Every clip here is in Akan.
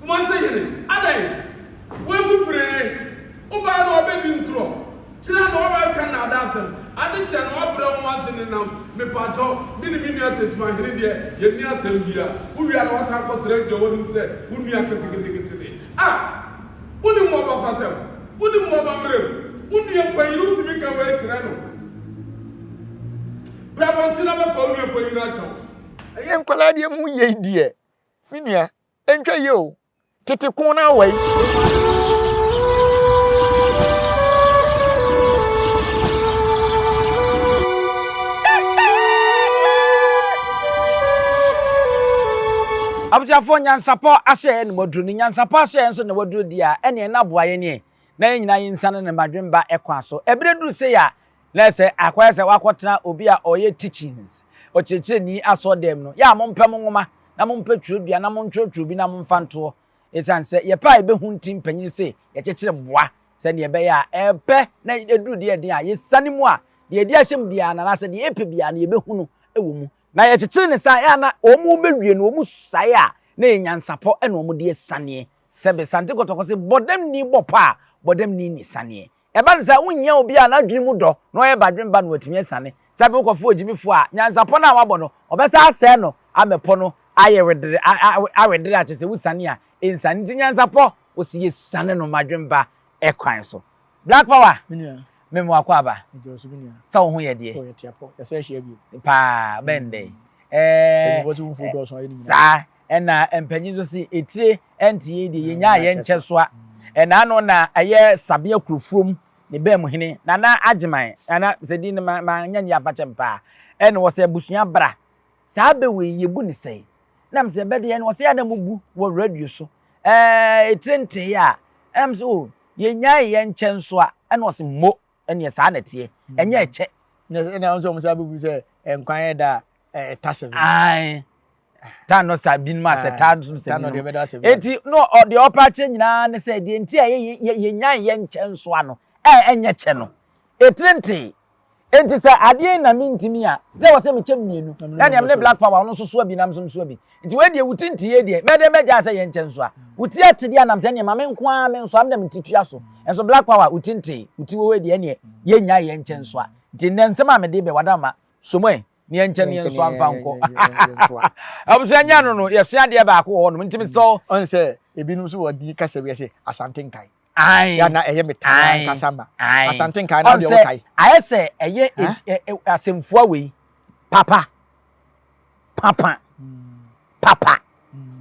Kumase hene, adɛn? Woasu firii? Wobae na woabɛdi ntorɔ, kyerɛ na woabɛka nnaadaasɛm, ade kyɛ na woabrɛ wo ho ase nenam, mepakyɛ wo, me ne me nua Tetuman hene deɛ, yɛnni asɛm biara, wowie a na woasan akɔtra adwa w'anom sɛ wo nua keteketeketene. A! Wonim w'abakɔsɛm, wonim w'amammerɛm, wo nua panyin wotumi ka wei kyerɛ no. Bra abɔnten na bɛpa wo nua panyin akyɛ wo. Ɛyɛ nkwadaa deɛ mu yei deɛ me nua. Nhwɛ yie o, tete ko no ara wai. Abusuafoɔ nyansapɔ ahyɛɛ na waduro ne nyansapɔ ahyɛɛ nso na waduro deɛ a ɛneɛ na aboa yɛn nie na yɛn nyinaa yɛnsan no ne madwene ba kwan so. Ɛberɛ duru sei a, na ɛsɛ akɔyɛ sɛ woakɔtena obi a ɔyɛ teachings, ɔkyerɛkyerɛni asɔɔdɛm no. Yɛ a mompɛ mo nwoma, na mompɛ twerɛdua, na montwerɛtwerɛ bi na momfa ntoɔ. Ɛsiane sɛ yɛpɛ a yɛbɛhu nti mpanin se yɛkyekyere boa sɛdeɛ ɛbɛyɛ a ɛpɛ na ɛduru deɛ ɛden a yɛsiane mu a deɛ yɛde ahyɛ mu biara no anaasɛ deɛ yɛpɛ biara no yɛbɛhu no wɔ mu. Na yɛkyekyere no saa a, ɛyɛ a na wɔbɛwie no wɔsae a na ɛyɛ nyansapɔ na wɔde asiane. Sɛ be sante kɔtɔkɔ se bɔdamni bɔ pɔ a, bɔdamni nni saneɛ. Ɛba no saa a, wonhia obi a n'adwene mu dɔ na ɔyɛ badwen ba na watumi asiane. Sɛ be wokɔfa ogyimifoɔ a, nyansapɔ no a wabɔ no, ɔbɛsan asɛe no amɛ pɔ no ayɛ wedere a a awedere a kyerɛ sɛ wosiane a ɛnsiane. Nti nyansapɔ, wɔse yɛsiane no madwen ba kwan so. Black Power, Me nua. meme wo akwaaba. Medwoɔ so me nua. Sɛ wo ho yɛ deɛ? Oh, yɛte apɔ. Yɛsan ahyia bio. Paa, bɛn dɛn? Ɛɛ. Mpanyinfoɔ se womfuo dɔɔso a, yɛne nyinaa. Saa. Nna mpanyin no se, Etire ntse yei deɛ yɛnyaa yɛn nkyɛsoa. Nna ano na ɛyɛ Sabea Kurofurom ne Bɛɛmu Hene, Nana Agyeman, a na sɛ din no mannyɛ ne yɛafakyɛm paa, ɛna ɔse, Abusua bra, saa bɛ wei yɛbu no sɛn? Ɛna mese, Bɛ deɛ no, ɔse, Yɛ a na mobu wɔ radio so, ɛɛɛ etire ntee a. Ɛna mese, Oh, yɛnyaee yɛn nkyɛnsoa. Ɛna ɔse, Mmo, ɛneɛ saa na ɛteɛ, ɛnyɛ ɛkyɛ. Na ɛna nso wɔsan bɛbu sɛ, Nkwa yɛ da a, ɛtase ho. Aane. tan no saa binom asɛ ah, tan no sɛ binom eti no ɔde ɔpa akyɛ nyinaa ne sɛ deɛ nti a yɛ yɛ nyan yɛ nkyɛn nso ano ɛɛ ɛnyɛ kyɛ no etire ntee eti sɛ adeɛ na mi ntumi a sɛ wɔ sɛ mi kyɛ mmienu na nea ne black power ɔno nso soa bi nam nso soa bi nti wei deɛ wuti nti yɛ deɛ mɛdɛ mɛgya sɛ yɛ nkyɛn nso a wuti ate deɛ anam sɛ nea maame nko ara mi nso am na mi ti tua so nso black power wuti ntee wuti wɔ hɔ deɛ nea yɛ nyan yɛ nkyɛn nso a nti nnɛ nsɛm a mɛ de bɛ wadama somoe. neɛ nkyɛ neɛ nso amfa nkɔ abusua nya no no yɛsua adeɛ baako wɔ hɔnom ntimi sɛ ɔn sɛ ebinom nso wɔ di kasa bi sɛ asante nkae yana ɛyɛ me taa nkasa ma asante nkae na deɛ wokae ayɛ sɛ ɛyɛ asɛmfua wei papa papa papa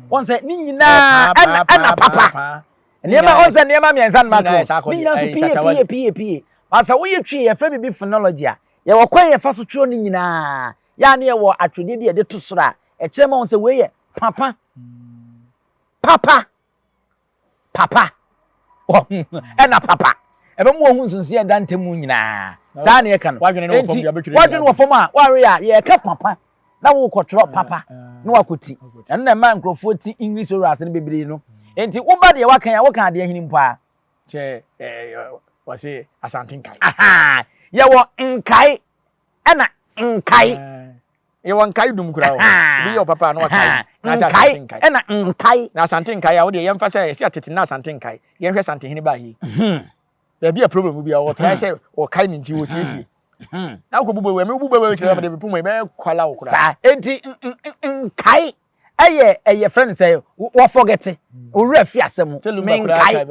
wɔn sɛ ne nyinaa ɛna ɛna papa nneɛma wɔn sɛ nneɛma mmiɛnsa no ma to ne nyinaa nso pie pie pie pie wɔn sɛ woyɛ twi yɛfrɛ biribi phonology a Yɛwɔ kwan a yɛfa so twerɛ no nyinaa. Yɛ a na yɛwɔ atwerɛdeɛ bi a yɛde to soro a ɛkyerɛ ma wɔn sɛ wei yɛ papa. Papa. Papa. Ɛna papa. Ɛbɛma wɔn ho nsonsonoeɛ a ɛda ntam mu nyinaa. Saa na yɛka no. Wadwene wɔ fam a wadwene wɔ fam a wɔawe a yɛka papa na wokɔtwerɛ papa na wakɔti. Ɛno na ɛma nkurɔfoɔ ti English orals no bebree no. Enti woba deɛ waka a woka adeɛ hene mpo a kyɛ ɛɛ wɔsi asante nkae. ahaa yɛwɔ nkae ɛna nkae yɛwɔ nkae dum kura o bi yɛ ɔpapa na wakae na akyɛ asante nkae ɛna nkae na asante nkae a wɔde yɛmfa sɛ ɛsi atete na asante nkae yɛnhwɛ asante hene baa yi hmm. baabi a problem bi a wɔtrae hmm. sɛ wɔkae ne nti wɔsiesie hmm. na wokɔ bubɔ wɛmi wobubɔ wɛmi kyerɛ wɔde bepom ɛbɛyɛ kwala wo kura saa enti nkae ɛyɛ ɛyɛ fɛ no sɛ wɔfɔgɛte owura fi asɛm mu menkae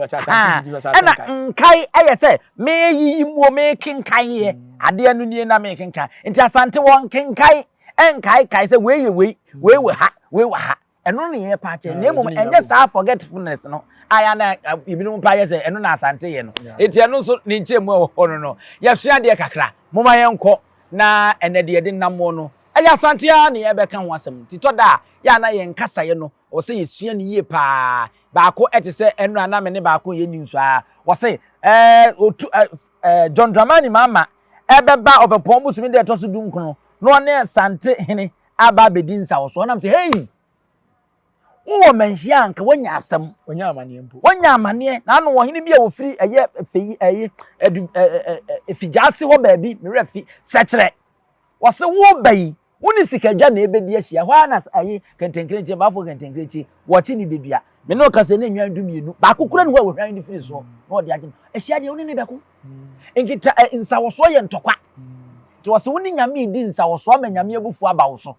ɛna nkae ɛyɛ sɛ meyiyi muo mekenkan yɛ mm. adeɛ no nie na mekenkan nti asante wɔ nkenkae ɛnkaekae sɛ wei yɛ wei mm. wei wɔ ha wei wɔ ha ɛno ne yɛ pa akyɛ na mmom ɛnyɛ saa forgetfulness no aya na ebinom pa yɛ sɛ ɛno na asante yɛ no eti ɛno nso ne nkyɛn mu ɛwɔ hɔ no no yɛsua adeɛ kakra mo ma yɛn kɔ na ɛnɛ deɛ yɛde nam no Ɛyɛ Asante ara na yɛrebɛka ho asɛm, nti tɔ da a, yɛ a na yɛn kasaeɛ no, ɛwɔ sɛ yɛsua no yie pa ara. Baako te sɛ ɛno a na me ne baako reyɛ news ara, ɔse, Ɛɛ, ɔtu, ɛɛ, ɛɛ, John Dramani Mahama bɛba Ɔpɛpɔn bosome da a ɛtɔ so du nkono na ɔne Asante hene aba abɛdi nsawɔsoɔ. Nam sɛ, Hei! Wowɔ manhyia a anka woanya asɛm. Wanya amaneɛ mpo. Wanya amaneɛ. Na ano ɔhene bi a ɔfiri ɛyɛ fɛ yi, ɛyi, ɛdu, ɛɛ, ɛɛ, ɛɛ, ɛfi gyaase hɔ baabi, me werɛ fi, sɛkyerɛ. Wɔse wo ba yi, wo ne sikadwa na ɛbɛdi ahyia. Ɛhɔ ara na ayi kɛntɛnkrɛnkyɛ, baafo kɛntɛnkrɛnkyɛ, wɔkye ne bɛdua. Me ne ɔka sɛ ne nnwan du mmienu, baako kura ne hɔ a wɔhwan ne firi soɔ na ɔde agye no. Ahyia deɛ wo ne ne bɛko. Nkita ɛ, nsawɔsoɔ yɛ ntɔkwa. Nti wɔse wo ne Nyame redi nsawɔsoɔ ama Nyame abufuo aba wo so,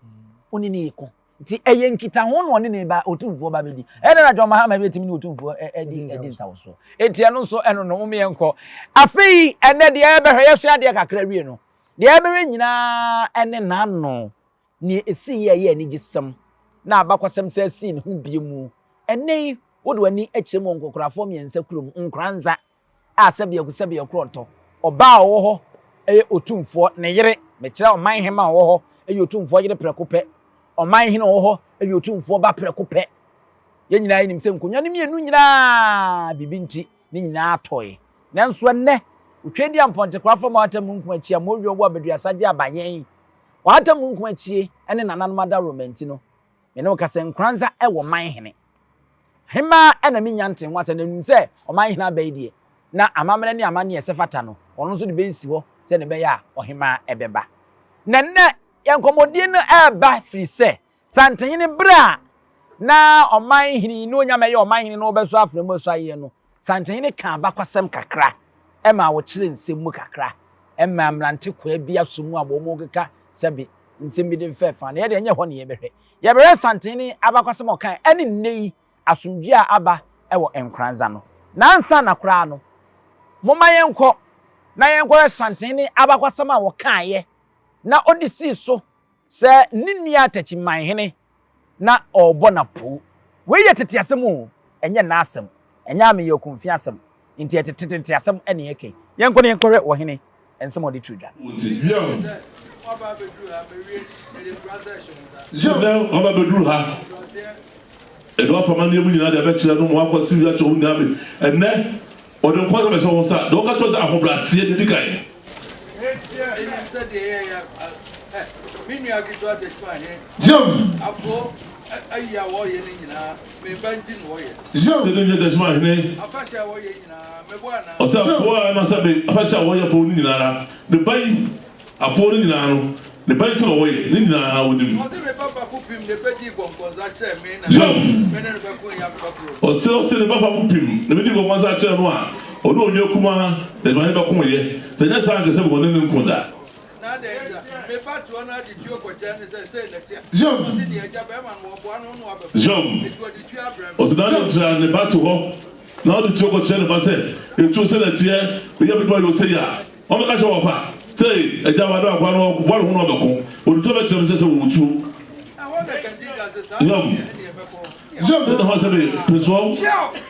wo ne no reko. Nti ɛyɛ nkitaho na ɔne ne ba, Otumfoɔ ba bɛdi. Ɛyɛ dɛn na John Mahama bɛtumi ne Otumfoɔ adi adi nsawɔsoɔ? Nti ɛno nso ɛno no, momma yɛnkɔ. Afei ɛnnɛ deɛ yɛbɛhwɛ, yɛsua adeɛ kakra wie no, Deɛ ɛbɛwɛ nyinaa ne n'ano. Nea ɛsiiɛ a ɛyɛ anigyesɛm na abakɔsɛm san sii ne ho bio mu. Ɛnnɛ yi, wode w'ani kyerɛ mu wɔ nkɔkorafoɔ mmiɛnsa kurom, Nkoranza a sɛdeɛ ɛgu sɛdeɛ ɛkorɔ ntɔ. Ɔbaa a ɔwɔ hɔ yɛ otumfoɔ, ne yere, mekyerɛ ɔmanhema a ɔwɔ hɔ yɛ otumfoɔ yere prɛko pɛ, ɔmanhene a ɔwɔ hɔ yɛ otumfoɔ ba prɛko pɛ. Yɛn nyinaa yɛnim sɛ nkonnwa no mmienu nyinaa biribi nti, Ne nyinaa tɔe. Nanso ɛnnɛ, otwa di a mpɔntekwaa fa mu ahata mununkum akyi a mmoyuo wɔ abaduasa gye aba yɛn. Ɔhata mununkum akyi ne nananom adaworoma nti no, me ne wo ka sɛ nkoranza wɔ man hene. Hemaa na mennya ntee ho asɛm na menim sɛ ɔman hene aba yi deɛ, na amammerɛ ne amanneɛ a ɛsɛ fata no, ɔno nso de bɛsi hɔ sɛdeɛ ɛbɛyɛ a ɔhemaa bɛba. Na ɛnnɛ, yɛn nkɔmmɔdie no reba firi sɛ Santenhene bere a na ɔman hene yi na onya mɛyɛ ɔman hene na ɔbɛsɔ afra mu ɛsɔ ayɛ no, Santenhene kaa abakɔsɛm kakra ɛma ɔkyerɛ nsɛm mu kakra ɛma mmerante kwaa bi aso mu a wɔn mo keka sɛbe nsɛm bi de mfɛ fa no. Yɛ deɛ nyɛ hɔ na yɛ bɛhwɛ. Yɛ bɛhwɛ Santenhene abakɔsɛm a ɔkaɛ ɛne nnɛ yi asomdwie a aba ɛwɔ Nkoranza no. Na ansa na koraa no, momma yɛn kɔ na yɛn kɔhwɛ Santenhene abakɔsɛm a ɔkaeɛ na ɔde sii so. Sɛ ne nua atakyi man hene na ɔrebɔ no apoo. Wei yɛ tete asɛm o, ɛnyɛ nnɛ asɛm. Ɛnyɛ ameyɛ okunfin asɛm, enti ɛyɛ tete tete asɛm na yɛka yi. Yɛnkɔ na yɛnkɔhwɛ wɔ hene nsɛm a ɔde too dwa no. Ɔte dua mu. Nnɛ waba abɛduru ha. Ɛdɔ afa m'adeɛ mu nyinaa de abɛkyerɛ no ma wakɔ Sylvia Chow Nyame. Ɛnnɛ Ɔdwenpɔfo no bɛhyɛ wɔn nsa na wɔka akyerɛ wɔn sɛ ahobrɛaseɛ na edi kan. Sɛdeɛ Dachima hene ɔsɛ apoa anaasɛ me afahyɛ a wɔyɛ pɔn no nyinaa ara, me ba yi. Apɔw no nyinaa no, ne ba nti na wɔyɛ, ne nyinaa wonim. Ɔse me ba fafo pim na ebedii gɔnkɔnsa kyerɛ me na me ne no bɛko yɛ abeba koro. Ɔse ɔse ne ba fafo pim na ebedii gɔnkɔnsa kyerɛ no a ɔne onua kumaa na me ne no bɛko yɛ, sɛ ɛnyɛ saa a anka sɛ me wɔ ne ne nko da. Na adɛn ntia? Me ba toa no ade tuo kɔkyɛɛ no sɛ sei na tia. Na ɔse deɛ agya bɛɛma no wɔboa no na wabɛfa. Eti ɔde tuo abrɛ me. Ɔse na adɛn ntia? Ne ba te hɔ na ɔde tuo kɔkyerɛ ne ba sɛ etuo sei na teɛ, meyɛ m'adwuma yɛ ose yi a Wɔbɛka kyerɛ wɔn mma sɛ, 'Agya, wɔadɔ akoa no, wɔre ho na ɔbɛko. Wɔde tuo bɛkyerɛ no sɛ sɛ wɔwɔ tuo. Yom. Sɛ ne ho asɛm yɛ pesoaw,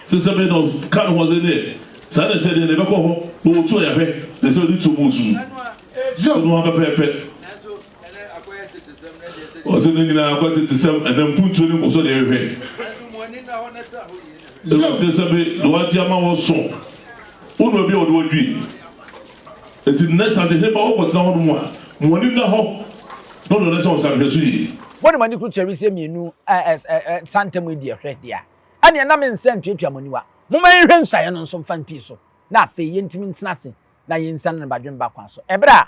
sɛ sɛ bɛyɛ na ɔka ne ho asɛm deɛ, saa na ɛteɛ deɛ, na ɛbɛkɔ hɔ. Wɔwɔ tuo a, yɛahwɛ, na ɛsɛ sɛ wɔde tuo bɔ osu. Sɛ ne ho apɛpɛɛpɛ. Ɔsɛ ne nyinaa akɔ tete sɛm ɛna mpuntuo ne nkɔsɔ deɛ hwɛ. Ɛwɔ sɛ sɛ be na wagye ama wɔ so wo na obi a wɔde wɔdwi. Eti nnɛ sante hene ba wɔkɔ tena hɔ nom a mo ani nna hɔ na wɔde wɔn ahyɛ wɔn nsa hwɛ so yie. Mo de mo ani koro kyerɛ wisie mmienu ɛɛ sante mu yi deɛ hwɛ deɛ ɛneɛ na me nsa ntuatua mo aniwa. Moma yɛnhwɛ nsuaeɛ no nso mfa mpii so na afei yɛntumi ntena ase na yɛnsiane no badwemba kwan so ɛberɛ a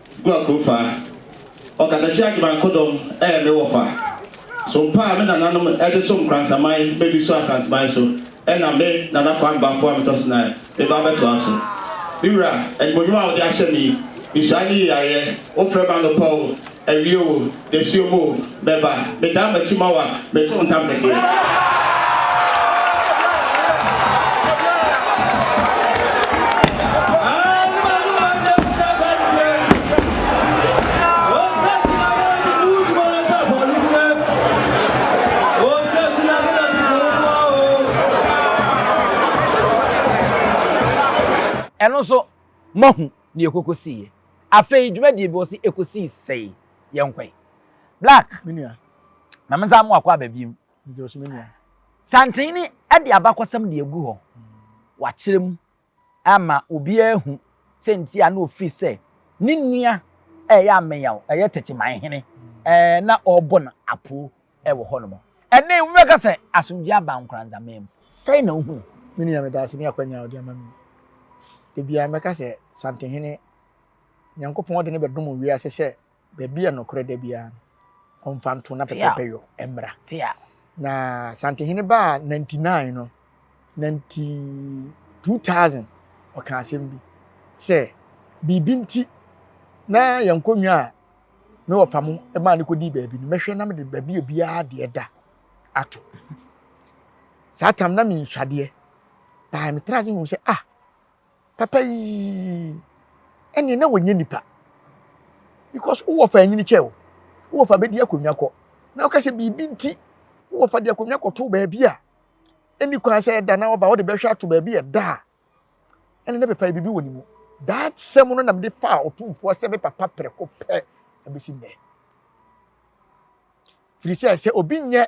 Gua Kurofaa, Ɔkatakyie Agyeman Kodom yɛ me wɔfa. Sompa a me nananom de som Kransaman bɛ bi so Asanteman so na me, Nana Kwame Bafo Amitɔsenaa, meba abɛtoa so. Me wura, animuonyam a wode ahyɛ me yi, mehyira ne yeyareɛ, wofrɛ me anɔpa o, awia o, Nsuo mu bɛba. Metaa m'akyi ma wo a, meto wo ntam kɛseɛ. ɛno nso moahu nea ɛkɔkɔsiiɛ. Afei dwumadie bi wɔ se ɛkɔsii sɛi. yɛnkɔe. Black, ma me nsa mo akɔ aba biem. Santene de abakɔsɛm de agu hɔ. Wakyerɛ mu ama obiara ahu sɛ nti a na ɔfiri sɛ ne nua ɛyɛ ameyaw, ɛyɛ tɛkyiman hene, ɛɛ na ɔrebɔ no apoo ɛwɔ hɔ nom. Ɛnɛ wobɛka sɛ asomdwoeɛ aba Nkoranza man mu. Sɛn na wohunu? Me nua, meda ase ne akwanya a wode ama me yi. Da biara mɛka sɛ Santehene. Nyankopɔn de no bɛdom wiase sɛ baabi a nokorɛ da biara no, ɔmfa nto na pɛpɛɛpɛ yɔ mmra. Na Santehene baa nanti nine no, nanti 2000 ɔka asɛm bi sɛ biribi nti na yɛn nkonnwa a me wɔfa mo maa no kɔdii baabi no mɛhwɛ na mede baabi a biara deɛ da ato saa tam na mensuadeɛ paa metra ase hu sɛ ah Papa yii ɛneɛ na wɔnyɛ nipa because wowɔ fa anyini kyɛ o wowɔ fa bɛdi akonnwa kɔ na woka sɛ biribi nti wowɔ fa de akonnwa kɔto baabi a ɛni kwan sɛ ɛda na ɔba wode bɛhwɛ ato baabi ɛda a ɛne na papa biribi wɔ ne mu that sɛm no nam de fa ɔtumfoɔ sɛ me papa prɛko pɛ ɛbɛsi nnɛ firi sɛ sɛ obi nyɛ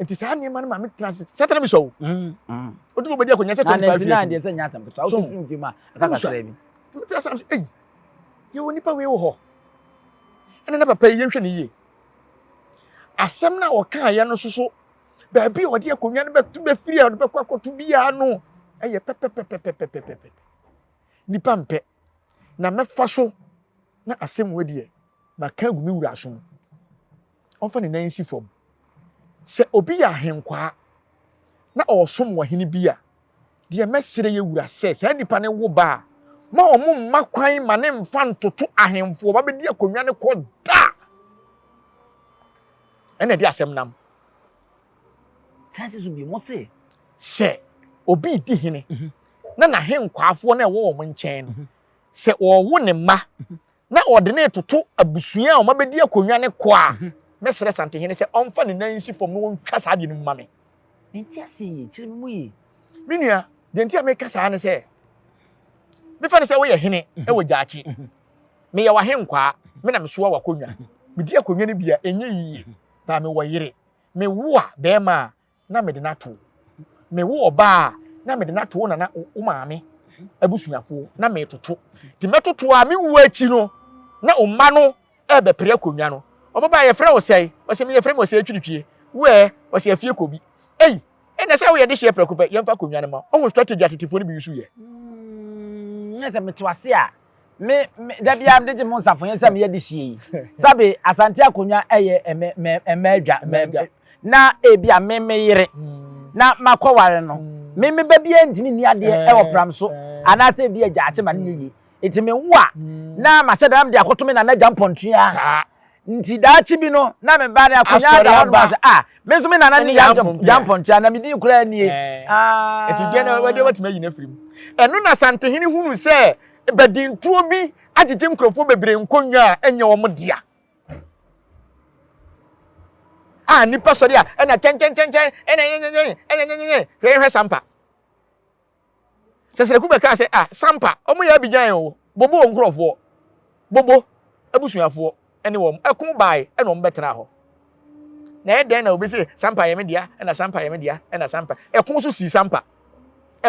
nti saa nneɛma no ma me tena ase sɛ tena mi sɔ o otu fo bɛdi akonnwa sɛ twenty five years na ntina deɛ sɛ nyɛ asɛm ketewa wotu firi mfe mu a ɛka kakra bi metena ase sɛ eyi yɛwɔ nipa wei wɔ hɔ ɛna na papa yi yɛnhwɛ ne yie asɛm no a ɔkaeɛ no soso baabi a ɔde akonnwa no bɛto bɛfiri a ɔde bɛkɔ akɔto biara no ɛyɛ pɛpɛpɛpɛpɛpɛpɛ nipa mpɛ na mɛfa so na asɛm wɔ deɛ maka agu me wura so no ɔmfa ne nan nsi fam. Sɛ obi yɛ ahenkwaa na ɔresom wɔ hene bi a, deɛ mɛsrɛ yɛ wura sɛ saa nipa no wo ba a, ma wɔn mma kwan ma ne mfa ntoto ahemfo ɔba bɛdi akonnwa no kɔ da. Ɛna ɛde asɛm nam. Saa sɛ so bi mo se. Sɛ obi di hene mhm. na n'ahenkwafoɔ na ɛwɔ wɔn nkyɛn no, mhm. sɛ wɔwo ne mma mhm. na wɔde no retoto abusua a wɔabɛdi akonnwa no kɔ a, mhm. mɛsrɛ Santehene sɛ ɔmfa ne nan nsi fam na wɔntwa saa adeɛ no mu ma me. Nti ase yie, kyerɛ me mu yie. Me nua, deɛ nti a meka saa ne sɛ, mefa no sɛ woyɛ hene mhm. wɔ gyaakye. Mhm. Meyɛ w'ahenkwaa, me na mesoa w'akonnwa. Medi akonnwa no bi a, ɛnyɛ yie. Na mewɔ yere, mewo a bɛrima a, na mede no ato wo. Mewo ɔbaa a, na mede no ato wo nana wo maame abusuafoɔ na metoto. Nti mɛtoto a me wuo akyi no, na wo mma no ɛrebɛpere akonnwa no. Wɔn baa yɛfrɛ wo sɛe? Wɔsɛ me yɛfrɛ me ɔsɛe twiripie. Woɛ, wɔsɛ afie kɔ bi. Ei, ɛnna sɛ woyɛ dehyeɛ prɛko pɛ, yɛmfa akonnwa no ma. Ɔho strategy a tetefoɔ no bi use yɛ. Mm, na sɛ mete ase a, Me, me, da biara mede gye mo nsafoyɛ sɛ meyɛ de sie yi. Sabe, Asante akonnwa yɛ ɛmɛ, mɛ, ɛmɛ adwa, mɛ, mɛ, na ebi a me, me yere, na makɔware no, me, me ba biara ntumi nni adeɛ wɔ pram so, anaasɛ ebi a gyaakye ma no nyɛ yie. Enti mewo a, na mahyɛ da na mede akɔto me nana agya mpɔntua. Nti daakye bi no, na me ba no akonnwa da hɔ nom ase. Ah, me nso me nana ne Yampɔntua, na me din koraa nie. Ah. Nti deɛ na wɔde wɔtumi ayi n'afiri mu. Ɛno na Santehene hunu sɛ badintuo bi agyegye nkurɔfoɔ bebree nkonnwa a ɛnyɛ wɔn dea. A nnipa sɔre a ɛna kyɛnkyɛnkyɛnkyɛn ɛna nyɛnyɛnyɛn ɛna nyɛnyɛnyɛn hwɛ yɛhwɛ sampa. Sɛsrɛku bɛkaa sɛ, Ah, Sampa, wɔyɛ Abigyan o, Bobo wɔn nkurɔfoɔ, Bobo abusuafoɔ ne wɔn ko bae na wɔbɛtraa hɔ. Na ɛyɛ dɛn na obi se, Sampa yɛ me dea, na Sampa yɛ me dea, na Sampa. Ɛko nso sii Sampa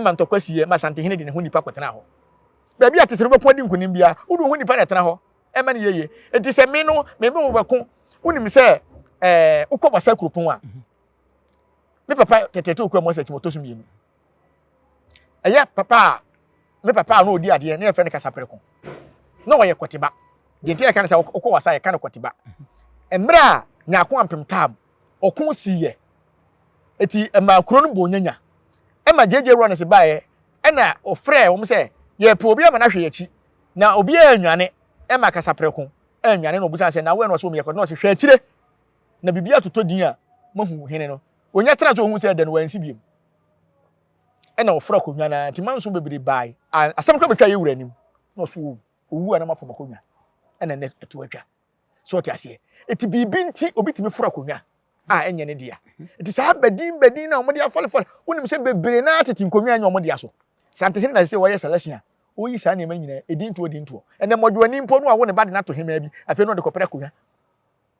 ma ntɔkwa siiɛ ma Santehene de ne ho nnipa kɔtenaa hɔ. Baabi a te sɛ no wobɛko adi nkonim biara, wode wo ho nnipa na ɛtena hɔ ma no yɛyie. Enti sɛ me no, me ne wo bɛko, wonim sɛ ɛɛ wokɔ Basa kuropɔn a, me papa Tɛtɛtɛ Okuamoa Sakyima ɔtɔ so mmienu. ɛyɛ papa a me papa a na ɔdi adeɛ na yɛfrɛ no kasaprɛko na ɔyɛ kɔteba deɛ nti yɛka no sɛ ɔkɔ wasa yɛka no kɔteba mmerɛ a nyaako ampem tam ɔko siiɛ ɛti ɛma kuro no bɔɔ nyanya ɛma gyegye wura no se baeɛ ɛna ɔfrɛ wɔm sɛ yɛpɛ obi ama no ahwɛ yɛakyi na obi a anwane ɛma kasaprɛko anwane na ɔbusa sɛ na woɛ na ɔsɛ ɔmyɛ kɔteba na ɔsɛ hwɛ akyire na biribi atotɔ din a mahu hene no Onya tena ase ohun sɛ da no wansi biom. Ɛna ɔforo akonnwa no ara nti manso bebree bae a asɛm kora betwa yɛn wura anim na ɔso owu. Owu a na mafom akonnwa ɛna nnɛ ɛto atwa. So ɔte aseɛ? Eti biribi nti obi tumi foro akonnwa a ɛnyɛ ne dea. Eti saa badin badin no a wɔde afɔlefɔle, wonim sɛ bebree no ara tete nkonnwa a ɛnyɛ wɔn dea so. Saa nti hene na ɛsɛ sɛ ɔyɛ selection a ɔyi saa nneɛma no nyinaa, edintoɔ edintoɔ. Ɛnɛ mmɔdwoani mpo no wawo ne ba de no ato hemaa bi, afei na ɔde kɔpere akonnwa.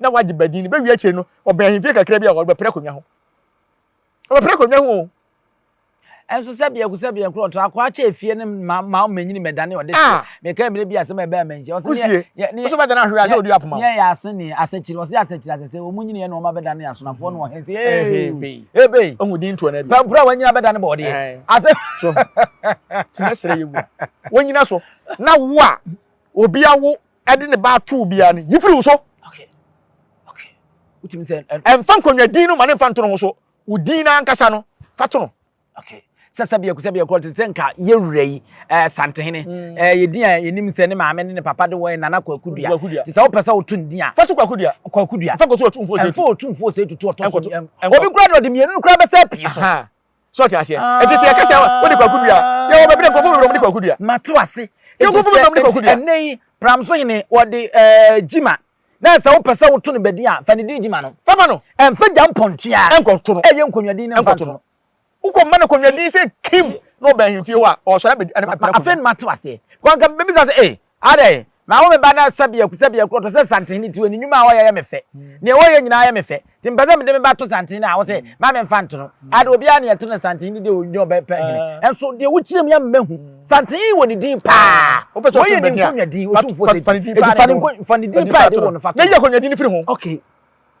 na wagye badin no bɛwie akyire no ɔbɛn ahemfie kakra bi a ɔrebɛpere akonnwa ho ɔbɛpere akonnwa ho o. ɛnso sɛ biako sɛ biako ɔtɔ akoa kyɛ efie no ma ma ɔmanyini mɛdane ɔde hyɛ ah! meka mmerɛ bi asɛm a ɛbɛn amanhyia ɔsɛ kusie nso bɛdane ahwere asɛ ɔdi apoma yɛ ase ne asɛkyiri ɔsɛ asɛkyiri asɛ sɛ ɔmu nyini yɛ na ɔma bɛdane asonafoɔ no ɔhene sɛ ebei ebei ɔhu din toɔ no abi pampura wɔnyina bɛdane bɔɔdeɛ asɛ so tumi srɛ yɛ wu wɔnyina so na wo a obi awo ɛde ne ba ato wo biara no, yi firi wo so. Ɛmfa nkonnwa din no ma ne mfa nto ne ho so. Wo din no ankasa no, fa to no. sɛ sɛ biako sɛ biako te sɛ nka yɛ wura yi ɛɛ eh, santehene hmm. ɛɛ eh, yɛ din a yɛnim sɛ ne maame ne ne papa de wɔyɛ nana kwakudua te sɛ wopɛ sɛ woto ne din a fa so kwakudua kwakudua fa kɔto ɔtumfoɔ sɛ ɛmfa ɔtumfoɔ sɛ tutu ɔtɔ so obi kura de ɔde mmienu no kura bɛsɛ pii so so ɔte aseɛ ɛte sɛ yɛka sɛ wode kwaku dua yɛ wɔ bɛbrɛ nkɔfo bebrɛ ɔmde kwaku dua mate ase nkɔfo bebrɛ ɔmde kwaku dua ɛnɛ yi pram so hene wɔde ɛɛ gyima na sɛ wopɛ sɛ woto no bɛdi a fa ne din gyima no fama no ɛmfa gya mpɔntua ɛnkɔto no ɛyɛ nkonnwadin no mfa to no wokɔ mma no nkonnwadin sɛ kim na ɔbɛn ahemfie hɔ a ɔsɔre abɛdi ɛne papa afei no mate ase kwanka bɛbisa sɛ ee Adɛn? Mawo me ba no sɛbea ku, sɛbea kuru, ɔte sɛ santehene ti, ne nnwuma a ɔyɛ yɛ me fɛ. Nea ɔyɛ nyinaa yɛ me fɛ. Enti mepɛ sɛ mede me ba to santehene a ɔse mma memfa nto no. Adɛn, obiara nea ɛte no santehene de ɔnyɛ ɔbɛpɛ hene. Nanso deɛ wokyerɛ mu yi ama mahu, santehene yi wɔ ne din paa. Wɔyɛ ne nkonnwa din, Otumfoɔ Ɔsɛe Ti. Enti fa ne nkonnwa, fa ne din paa a yɛde woo no fa to. Na yi akonnwa din no firi ho. Okay,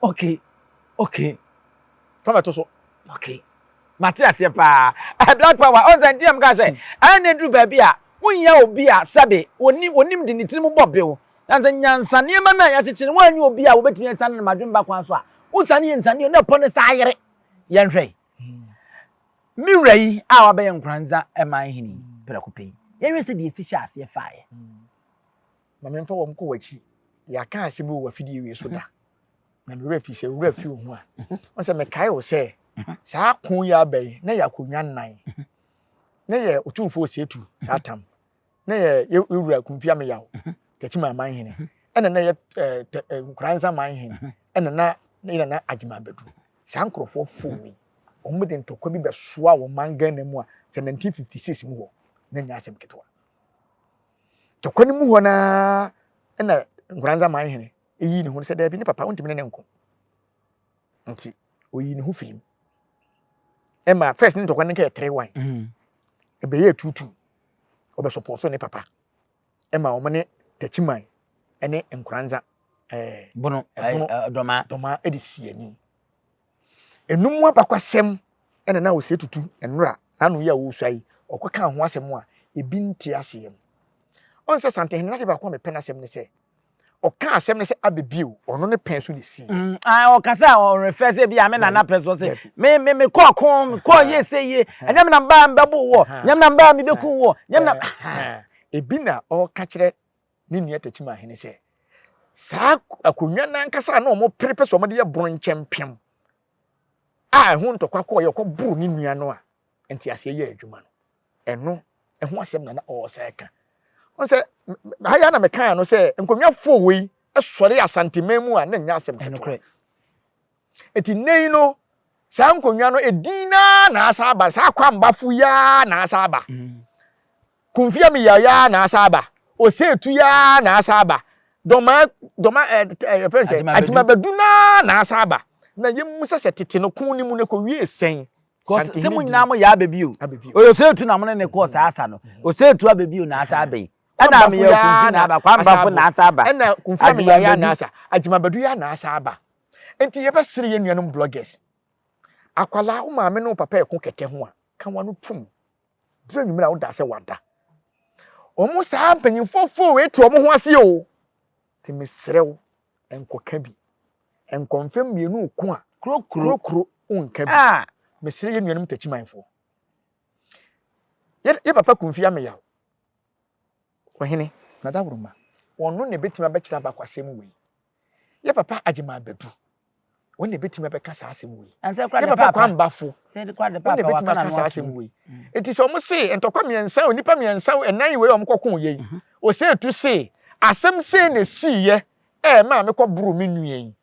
okay, okay. Fa ma ɛto so. Okay. Mate aseɛ paa. Eh, Black Power, ɔn sɛ nti na meka sɛ ɛyɛ na ɛduru baabi a wonhia obi a sɛbe ɔnim, ɔnim de ne tiri mu bɔ bew. Na sɛ nyansa nneɛma no a yɛakyekyere no woannya obi a wobɛtumi asiane no ma adwene ba kwan so a, wosane yɛ nsaneɛ na ɛpɔ no saa ayere. Yɛnhwɛ yi. Me wura yi a wabɛyɛ Nkoranza man hene yi, prɛko pɛ yi, yɛnhwɛ sɛ deɛ ɛsi hyɛ aseɛ faeɛ. Ma memfa wɔn kɔ w'akyi. Yɛaka asɛm wɔ w'afidie wei so da. na me werɛ fi sɛ owura fi wo ho a ɔn sɛ mekae wo sɛ saa ko yi aba yi na yɛ akonnwa nnan na yɛ otumfoɔ osietu saa tam na yɛ yɛwura kumfi ameyaw tɛkyi ma aman hene ɛna na yɛ nkora nsa man hene ɛna na na yɛ na agyima abɛdu saa nkurɔfoɔ fo mi wɔn de ntɔkwa bi bɛsoa wɔn man ghana mu a sɛ 1956 mu hɔ na nyɛ asɛm ketewa tɔkwa no mu hɔ naa ɛna nkora nsa man hene yii ne ho sɛ, Dabi, ne papa, wontumi ne no nko. Nti, oyii ne ho firii mu. Ɛma first ne ntɔkwa no nkɛyɛ tere wan. Ɛbɛyɛ tuutuu. Ɔbɛsɔpɔɔ so ne papa. Ɛma wɔn ne Takyiman ne Nkoranza ɛɛ. Bono, ɛɛ, dɔmaa. Dɔmaa de si ani. Eno mu abakwasɛm na na Osei Tutu nnora n'ano yi a ɔresua yi, ɔkɔ kaa ho asɛm a ebi nte aseɛ mu. Ɔn sɛ Santenhene no ade baako a mepɛ n'asɛm ne sɛ, ɔka asɛm no sɛ abɛ bio, ɔno ne pɛn so na ɛsii yɛ. Ae, ɔka sɛ ɔn refɛ sɛ ebia me nana pɛ so, ɔse, me, me, me kɔɔ ko, me kɔɔ yie sɛ yie, ɛnyɛ me na mebaa mebɛboo woɔ, ɛnyɛ me na mebaa mebɛkuu woɔ, ɛnyɛ me na. Ahaa, ebi na ɔreka kyerɛ ne nua Takyimahene sɛ, saa akonnwa no ankasa a na wɔpere pɛ sɛ wɔde yɛ bronkyɛmpem a ɛho ntɔkwa kɔɔ yɛ ɔkɔboro ne nua no a nteaseɛ yɛ adwuma no ɛno ɛho asɛm na na ɔresan ka wɔn sɛ ha yɛ na mekaa no sɛ nkonnwa fo wei sɔre asanteman mu a na nyɛ asɛm ketewa Enti nnɛ yi no, saa nkonnwa no, edin no ara na asan aba, saa Kwambafo yi ara na asan aba, Kumfi Amiyaw yi ara na asan aba, Osetu yi ara na asan aba, Dɔma, Dɔma, ɛɛ, eh, eh, yɛfrɛ no sɛ, Agyimabadu no ara na asan aba. Na yɛmmisa sɛ tete no ko no mu no ɛkɔwiee sɛn? Because sɛ mo nyinaa mo yɛ aba bio. Osetu na mo ne ne kɔɔ saa asa no. Osetu aba bio na asan aba yi. Ɛna Amiyaw Kumfi na aba, Kwambafo na asan aba. Ɛna Kumfi Amiyaw yi ara na asa, Agyimabadu yi ara na asan aba. Enti yɛbɛsere yɛn nuanom bloggers. Akwadaa, wo maame ne wo papa ɛko kɛtɛ ho a, ka wano tum. Duru anwummerɛ a wodaa sɛ wada. Wɔn saa mpanyinfoɔ foo wei te wɔn ho ase o. Nti mesrɛ wo, nkɔka bi. Nkɔ mfɛm mmienu ko a, kurokuro wonka bi. Ah! Mesrɛ yɛn nuanom takyimanfoɔ. Yɛ papa kumfi ameyaw. Ohene. Nadaworoma, ɔno na ɛbɛtumi abɛkyerɛ Abako asɛm wei. Yɛ papa Agyeman Badu, ɔno na ɛbɛtumi abɛka saa asɛm wei. Yɛ papa Kwame Bafo, ɔno na ɛbɛtumi aka saa asɛm wei. Nti sɛ wɔn se ntɔkwa mmiɛnsa, onipa mmiɛnsa, ɛnan wei a wɔn kɔko yɛ yi, ɔsɛ etu se asɛm sei na ɛsiiɛ ɛɛ maa mekɔ boro me nua yi.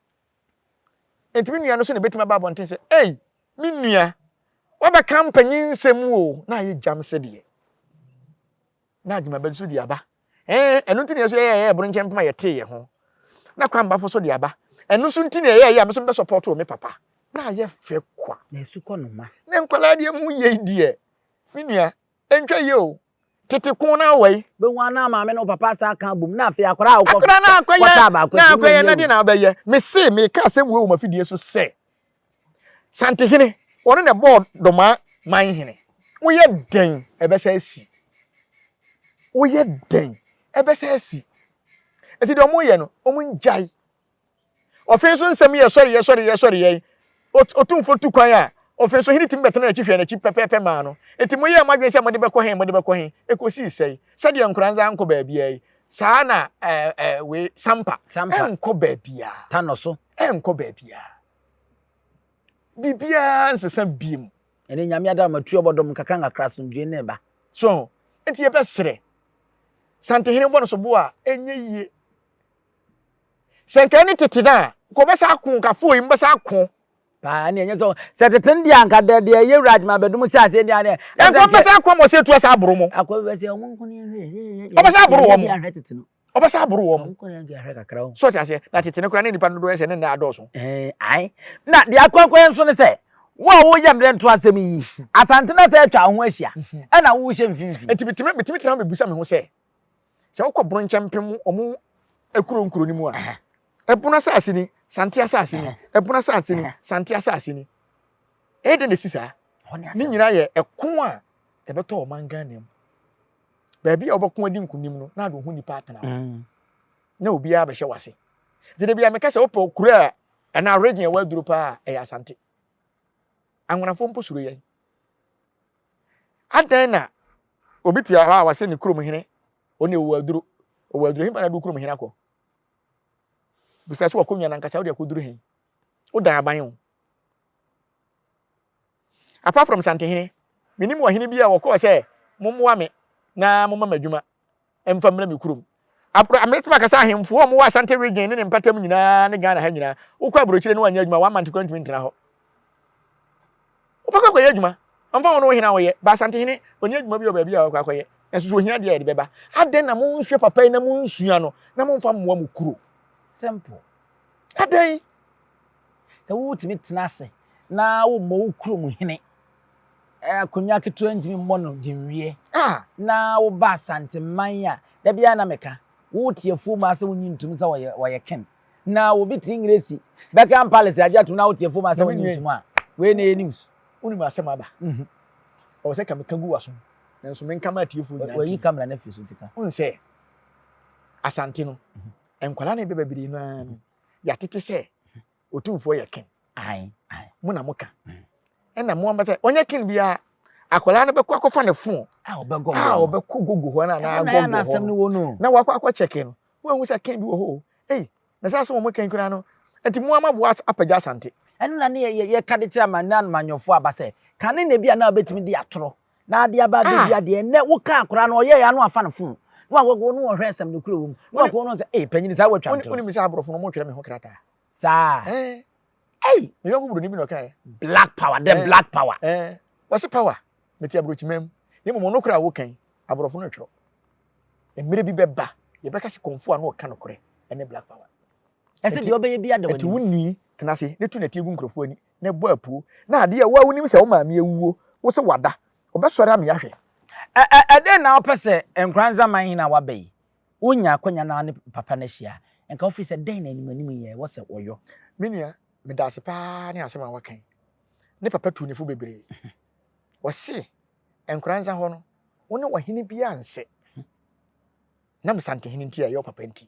Enti me nua no so na ebetumi aba abɔnten sɛ, Ei, me nua, woabɛka mpanyin nsɛm o, na ayɛ gyam sɛdeɛ. Na adwumaba bi so de aba. Ɛɛ, ɛno nti na yɛso yɛyɛ yɛyɛ boro nkyɛn mpem a yɛtee yɛn ho. Na kwambafo so de aba. Ɛno so nti na ɛyɛ ɛyɛ a me so mebɛsɔpɔto me papa. Na ayɛ fɛ kwa. Na asukɔnoma. Na nkwadaa deɛ mu yei deɛ. Me nua, Nhwɛ yie o, tete ko no ara wɔ yi. Bɛhu a na maame ne wo papa asan aka abom na afei akwadaa a wokɔ Akwadaa no akɔyɛ, kɔtaa baako na akyi akɔyɛ na mmɛnyɛ deɛ wei. na abɛyɛ. Mese, meka asɛm wei wɔ m'afidie so sɛ, Santehene, ɔno na ɛbɔɔ Domaa man hene. Woyɛ dɛn ɛbɛsa asi? Woyɛ dɛn ɛbɛsa asi? Nti deɛ wɔyɛ no, wɔngyae. Ɔfe nso nsɛm yɛ sɔreyɛ sɔreyɛ sɔreyɛ. Ot Otumfo tu kwan a, ɔfe nso hene tumi bɛtena n'akyi hwɛ n'akyi pɛpɛɛpɛ maa no. Enti moyɛɛ mo adwene sɛ mode bɛkɔ he, mode bɛkɔ he? Ekosii sɛe? Sɛdeɛ nkoranza ankɔ baabiaa yi, saa ara na ɛɛ ɛɛ wei, Sampa, Sampa. ɛnkɔ baabiaa. Ta no so. Ɛnkɔ baabiaa. Biribiaa nsesa biom. Ɛne Nyame adom ama tuo bɔdom nkakra nkakra asomdwoe ne ba. So ho? Enti yɛbɛsrɛ Santehene bɔ no sobo a, ɛnyɛ yie. Sɛ nka ɛne tete no a, nka wɔbɛsan ako, nka afei yi mobɛsan ako. Paa ɛne ɛnyɛ sɛ sɛ tete no deɛ anka dɛ deɛ ɛyɛ wura adwuma abɛdum hyɛ aseɛ deɛ aneɛ. Ɛnka wɔbɛsan ako ama ɔsɛ etu asa aboro mo. Akɔ bɛsɛ wɔn nko ne ahwɛ yɛ. Wɔbɛsan aboro wɔn. Yɛ ahwɛ tete no. Wɔbɛsan aboro wɔn. Wɔn nko ne yɛ ahwɛ kakra o. Sɔ te aseɛ na tete no koraa ne nipa no dodoɔ yɛ sɛ ne nna adɔɔso. Ɛɛ ae na deɛ akɔ akɔ yɛ nso ne sɛ wo a woyɛ mmerɛ nto asɛm yi asante na sɛ atwa ho ahyia ɛna wohyɛ mfimfini. Nti bitumi bitumi tena ho bibusa me ho sɛ. sɛ wokɔ bono nkyɛn mpem ɔmo ekuro nkuro no mu a ɛbono asase ni sante asase ni ɛbono asase ni sante asase ni ɛyɛ dɛ na esi saa ne nyinaa yɛ ɛko a ɛbɛtɔ ɔman ghana mu baabi a wɔbɛko adi nkunim no na ade ho nipa atena hɔ mm. na obiara bɛhyɛ wase gyina bi a meka sɛ wopɛ kuro a ɛna region ɛwɔ aduro paa ɛyɛ asante anwonafo mpo suro yɛn Adɛn na obi te hɔ a wɔse ne kurom hene, ɔno deɛ ɔwɔ aduro, ɔwɔ aduro, hefa na de wo kurom hene akɔ? Bisa so wakɔnwa no ankasa, wode akɔduru he? Wodan aban o. Apart from Santehene, menim ɔhene bi a ɔkɔɔ sɛ mommoa me na momma me adwuma, mfa mmra me kurom. Abro, mɛtumi aka sɛ ahemfo a wɔwɔ Asante Region ne ne mpatam nyinaa ne Ghana ha nyinaa, wokɔ aburokyire ne woanyɛ adwuma one month koraa ntumi ntena hɔ. Wobɛkɔ akɔyɛ adwuma, ɛmfa ho ne wo hene a woyɛ, ba Asantehene ɔnni adwuma bi wɔ baabi a ɔkɔ akɔyɛ, nanso sɛ ohia adeɛ a yɛde bɛba. Adɛn na monhwɛ papa yi na monsua no na momfa mmoa mo kuro? Simple. Adɛn? Sɛ wotumi tena ase na wommɔ wo kurom hene akonnwa ketewa ntumi mmɔ no de nwie. Na woba Asanteman a, da biara na meka, wote afuo mu ara sɛ wonnye ntom sɛ wɔyɛ ken. Na obi te Ngresi, Buckingham Palace agye atom na wote afuo mu ara sɛ wonnye ntom a, wei na ɛyɛ news. Wonim asɛm aba. Ɛwɔ sɛ ka meka gu w'asom, nanso menka ma atiefoɔ nyinaa ntie. Wayi camera no afiri so nti ka. Wohu sɛ Asante no, nkwadaa na ɛba bebree no ara no, yɛatete sɛ otumfoɔ yɛ ken mo na moka ɛna mo amba sɛ ɔnyɛ ken biara akwadaa no bɛkɔ akɔfa ne fon a ɔbɛkɔ gogo hɔ no anaa gɔngɔ hɔ no na wakɔ akɔ kyɛke no woahu sɛ ken bi wɔ hɔ o ei na sɛ asɛ wɔn ken koraa no nti mo ama boa apagya asante ɛno na ne yɛka de kyerɛ amanne amanyɔfoɔ aba sɛ kane na bi a na wobɛtumi de atorɔ Na ade aba da bi adeɛ nnɛ wo kaa koraa no ɔyɛɛ ya no afa no fon na wakɔkɔ no ɔhwɛ asɛm no kura wɔ mu na wakɔkɔ no sɛ ee panyini saa watwa ntorɔ. Wonim sɛ aborɔfo no wɔtwerɛ me ho krataa. Saa. Ɛɛ. Ei. Me yɔnko buroni bi na ɔkaeɛ. Black power dɛ black power. Ɛɛ. Wɔse power mete aburokyima mu na mmom ɔno koraa woka yi aborɔfo no ntwerɛ. Mmerɛ bi bɛba yɛbɛka sɛ kɔmfo a na ɔka nokorɛ ɛne black power. Ɛsɛ deɛ ɔbɛyɛ biara da w'anim. Ɛti wo nwi tena ase na tu nɛteɛ gu nkurɔfoɔ ani na bɔ apuo na adeɛ a wo a wonim sɛ wo maame awuo wo se wada ɔbɛsɔre ame ahwɛ. Ɛ ɛ dɛn na wopɛ sɛ Nkoranza man hene a waba yi wo nya akwanya na wo ne papa no ahyia nka wofiri sɛ dɛn na anim anim yɛ wɔ sɛ wɔyɔ. Me nua medase paa ne asɛm a waka yi ne papa tuu ne fo bebree ɔse Nkoranza hɔ no wo ne ɔhene biaa nsɛ nam Santehene nti a ɛyɛ ɔpapa nti.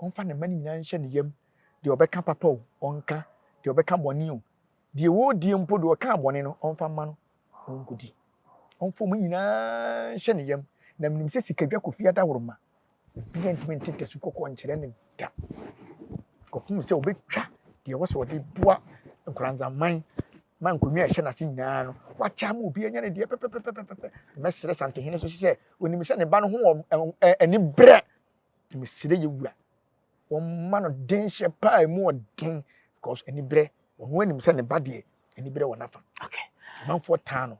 Ɔmfa ne mma no nyinaa nhyɛ ne yam, deɛ ɔbɛka papa o, ɔnka, deɛ ɔbɛka bɔne o, deɛ ɔredie mpo, deɛ ɔkaa bɔne no, ɔmfa mma no, ɔnkɔdi. Ɔmfa wɔn nyinaa nhyɛ ne yam, na menim sɛ sikadwa kɔfi adaworoma, obiara ntumi nte dasu kɔkɔɔ nkyerɛ no da kɔpem sɛ ɔbɛtwa deɛ ɛwɔ sɛ ɔde boa nkoranzaman ma nkonnwa a ɛhyɛ n'ase nyinaa no wakyɛ ama obi anya ne deɛ pɛpɛpɛpɛpɛ mɛsrɛ santehene so sɛ onim sɛ ne ba no ho wɔ ani berɛ Na mesrɛ yɛ wura wɔmma no denhyɛ paa ɛmu ɔden because aniberɛ ɔno anim sɛ ne ba deɛ aniberɛ wɔ n'afa amanfoɔ taa no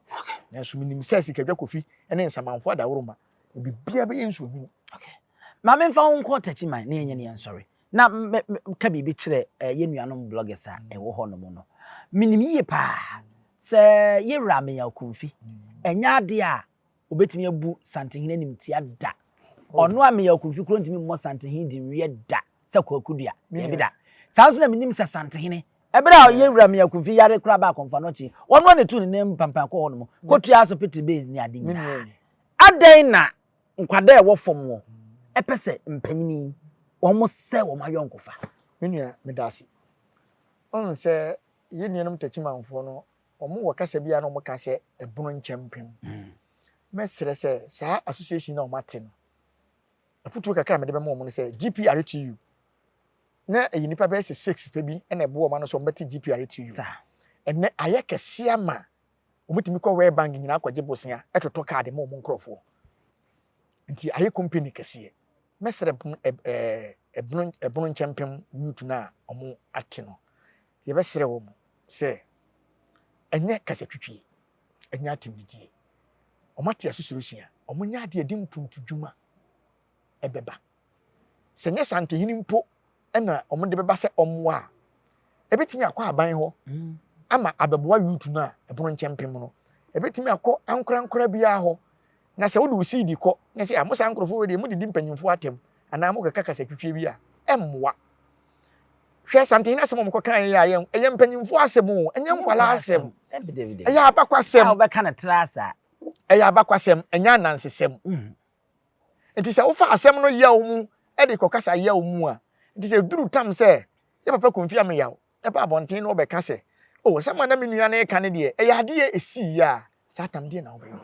nanso menim sɛ sikadwa kofi ne nsamanfoɔ adaworoma biribiara bɛyɛ nsuohunu ma memfa wo nkɔ takyi man na yɛnyɛ ne yɛnsɔre na ka biribi kyerɛ eh, yɛ nuanom bloggers a mm. ɛwɔ hɔ no mu no menim yie paa sɛ yɛwura meya okumfi mm. ɛnyɛ adeɛ a Obetumi abu Santehene animtia? Da! Oh. Ɔno a meyɛ ɔkunfi kuro ntumi mmɔ Santehene di nwiɛ da sɛ kwaku dua. Dabi da. Saa nso na menim sɛ Santehene ɛberɛ a ɔyɛ wura meyɛ ɔkunfi yare koraa baa akɔmfa no akyi ɔno a na ɛtu ne nan mu pampan kɔ hɔ nom kɔtua so pete base ne ade nyinaa. Adɛn na nkwadaa a ɛwɔ fam wɔ ɛpɛ sɛ mpanyini wɔn sɛ wɔn ayɔnkofa? Me nua meda ase. Ɔhu sɛ yɛn nuanom takyimanfoɔ no Wɔn wɔ kasa bi a na wɔn ka sɛ ɛbono nkyɛmpem. Mɛ srɛ sɛ saa association na wɔn ate no. Afutuo kakra a mede bɛma wɔn no sɛ GPRTU na ɛyɛ nipa bɛyɛ sɛ six pɛ bi na ɛboɔ wɔn ano sɛ wɔn bɛte GPRTU. Ɛnɛ ayɛ kɛse ama wɔn tumi kɔ World Bank nyinaa kɔgye bosea ɛtotɔ kaade ma wɔn nkorɔfoɔ. Nti ayɛ company kɛseɛ. Mɛsrɛ ɛbono nkyɛmpem Yut no a ɔmo ate no, yɛbɛsrɛ wɔ mo sɛ, ɛnyɛ kasatwitwie, ɛnyɛ atɛmdidie, ɔmo ate asusuro sua, ɔmo nyɛ adeɛ ɛde mpuntu dwuma ɛbɛba. Sɛ nyɛ saa ntɛhene mpo ɛna wɔn de bɛba sɛ ɔmmoa a ebetumi akɔ aban hɔ mm. ama abɛboa youth no a ɛpono nkyɛn pem no ebetumi akɔ ankorankora biara hɔ na sɛ wode wo seed kɔ na sɛ mo saa nkurɔfoɔ wɔ deɛ modidi mpanyimfo atɛm anaa mokɛka kasa twitwie bi a ɛmmoa hwɛ santen na asɛm a wɔkɔ kan yɛ ayɛ ɛyɛ mpanyimfo asɛm o ɛnyɛ nkwala asɛm ɛyɛ abakwasɛm a wɔbɛka no tra saa ɛyɛ abakwasɛm ɛnyɛ anansesɛm mm. Enti sɛ wofa asɛm no yaw mu de kɔkasa yaw mu a, enti sɛ eduru tam sɛ yɛ papa Komfi Ameyaw ba abɔnten na ɔbɛka sɛ, Oh, asɛm a na me nua no reka no deɛ, ɛyɛ adeɛ a ɛsii a, saa tam deɛ na wobɛyɛ.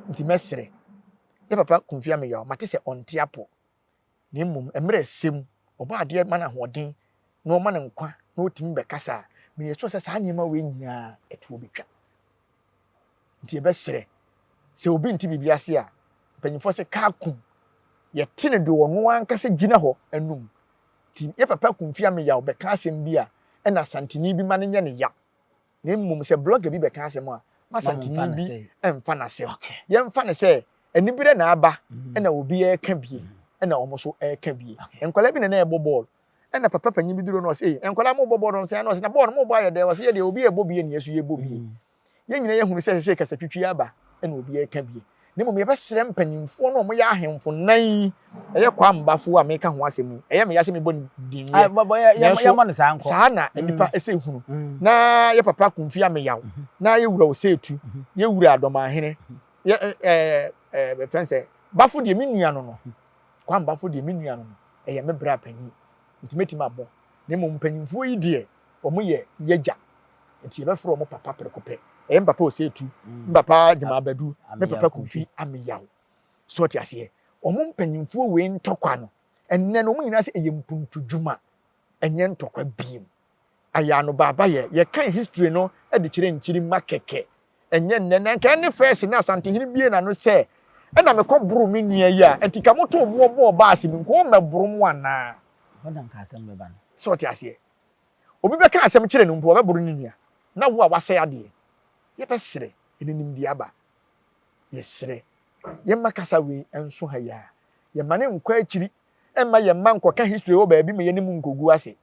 Enti mɛsrɛ, yɛ papa Komfi Ameyaw, mate sɛ ɔnte apɔ. na mmom mmerɛ ɛsɛ mu, ɔbɔ adeɛ ma no ahoɔden, na ɔma no nkwa, na ɔtumi bɛkasa a, meyɛ sure sɛ saa nneɛma wei nyina ara ɛtoɔ bɛtwa. Nti yɛbɛsrɛ, sɛ obi nte biribi ase a, mpanyimfoɔ se kaa kum, yɛte no deɛ ɔno ankasa gyina hɔ anum. Nti yɛ papa Kumfi Ameyaw bɛka asɛm bi a, ɛna Asanteni bi ma no nyɛ no yaw. Na mmom sɛ blogger bi bɛka asɛm a, ma Asanteni bi mfa n'asɛm. Yɛmfa no sɛ aniberɛ na aba na obi reka bie na wɔn nso reka bie. Nkwadaa bi na na ɛrebɔ bɔɔl. Ɛna papa panyin bi duru hɔ na ɔse, ei, nkwadaa mobɔ bɔɔl no sɛn ara? Na ɔse, na bɔɔl no mobɔ ayɛ dɛ? Ɔse, yɛ deɛ obi rebɔ bie na yɛn nso yɛrebɔ bie. Yɛn nyinaa yɛhunu sɛ ɛsɛ sɛ kasatwitwi aba na obi reka bie. na mmom yɛbɛsrɛ mpanimfoɔ no a wɔyɛ ahemfo nnan yi, ɛyɛ Kwaambafoɔ a meka ho asɛm yi, ɛyɛ me ya sɛ mebɔ ne din yɛ, nanso saa na nnipa mm. ɛsɛ hunu, mm. na yɛ papa Kumfi Ameyaw, mm-hmm. na yɛ wura Oseetu, mm-hmm. yɛ wura Adɔmahene, yɛ ɛɛ bɛfɛn sɛ Bafo deɛ me nua no no, Kwaambafo deɛ me nua no no, ɛyɛ me bra panyin, nti mɛtumi abɔ, na mmom mpanimfoɔ yi deɛ wɔn yɛ yɛgya nti yɛbɛfrɛ wɔn papa preko pɛ ɛyɛ mpapa oseetu mpapa gyemabadu ne papa kumfi ameyaw so ɔte aseɛ wɔn mpanyinfoɔ wei ntɔkwa no ɛnɛ no wɔn nyinaa sɛ ɛyɛ mpuntudwuma ɛnyɛ ntɔkwa biem ayɛ anobaaba yɛ yɛkan history no de kyerɛ nkyiri ma kɛkɛ ɛnyɛ nnɛ na nka ɛne fɛɛse na asantehene bie n'ano sɛ ɛna mekɔ boro me nua yi a ɛnti ka moto boɔ bɔɔ baase mu nkɔɔ mmɛboro mo anaa ɛhɔ na nka asɛm bɛba no sɛ ɔte aseɛ obi bɛka asɛm kyerɛ no mpo ɔbɛboro ne nua na wo a wasɛe adeɛ yɛbɛsrɛ ɛde nimdeɛ aba yɛsrɛ yɛmma kasa wei nso ha yi a yɛma ne nkɔ akyiri ɛmma yɛmma nkɔka history wɔ baabi ma yɛne mu nkɔgu ase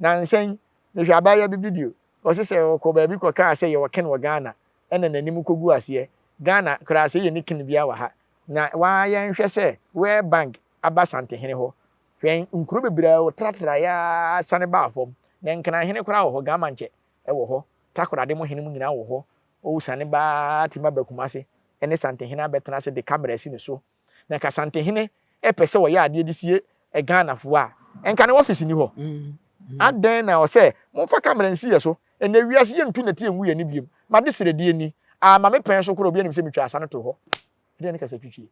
nansɛn mehwɛ abaayewa bi video Ɔse sɛ ɔkɔ baabi kɔkaa sɛ yɛwɔ ken wɔ Ghana ɛna nanim kɔgu aseɛ. Ghana koraa sɛ yɛnni ken biaa wɔ ha. Na waa yɛnhwɛ sɛ World Bank aba Santehene hɔ. Hwɛ nkuro bebree a ɔtratraeɛ ara sane baa fam. Na Nkran hene koraa wɔ hɔ, Gamankyɛ wɔ hɔ, Takoradi mo hene mo nyinaa wɔ hɔ. Ɔsane baa timi aba Kumase ne Santehene abɛtena ase de camera asi ne so. Na nka Asante hene pɛ sɛ ɔyɛ adeɛ de sie Ghanafoɔ a, nka ne office nni hɔ. Adɛn na ɛwɔ sɛ momfa camera nsi yɛn so? Ɛnnɛ wiase yɛntu nnɛteɛ ngu yɛn ani biom. M'adesrɛdeɛ ni, aa ma me pɛn so koraa obiara nim sɛ metwaa asa no too hɔ. Ɛdeɛn ne kasatwitwie?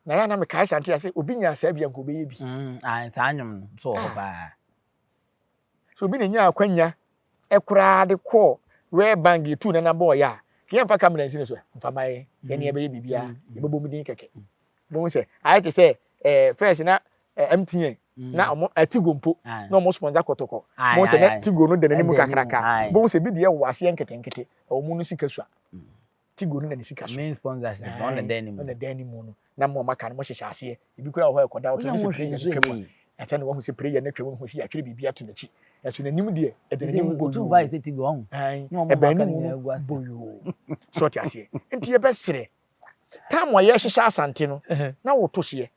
Na yɛ a na mekae Asante a sɛ obi nyaa saa bi a nka ɔbɛyɛ bi. Mm, ah, saa nnwom no nso wɔ hɔ paa. Sɛ obi na enyaa akwanya koraa de kɔɔ World Bank de tuu nana bɔɔl yɛ a, nka yɛmfa kamera nsi no so ɛ, mfa mma yɛn, yɛne yɛbɛyɛ biribiara, yɛbɛbɔ mu din kɛkɛ. Bohu sɛ ayɛ te sɛ ɛɛ fɛs na MTN na wɔn Tigo mpo na wɔn sponsor kɔtɔkɔ. Bohu sɛ na Tigo no da n'anim kakraka. Bohu sɛ bi deɛ wɔ aseɛ nketenkete, wɔn no sika sua. tigo no na ne sika so main sponsors no na dan ne mu na dan ne mu no na mo ma ka no mo hyehyɛ aseɛ ebi kura hɔ ɛkɔda ɔtɔ ne sɛ prayer no twam a ɛsɛ na wɔn sɛ prayer no twam ho si atwere biribi ato n'akyi ɛso n'anim deɛ ɛde n'anim bɔ yoo ɛbɛn ne mu no bɔ yoo so ɔte aseɛ nti yɛbɛsrɛ tam a yɛhyehyɛ asante no na wɔto hyeɛ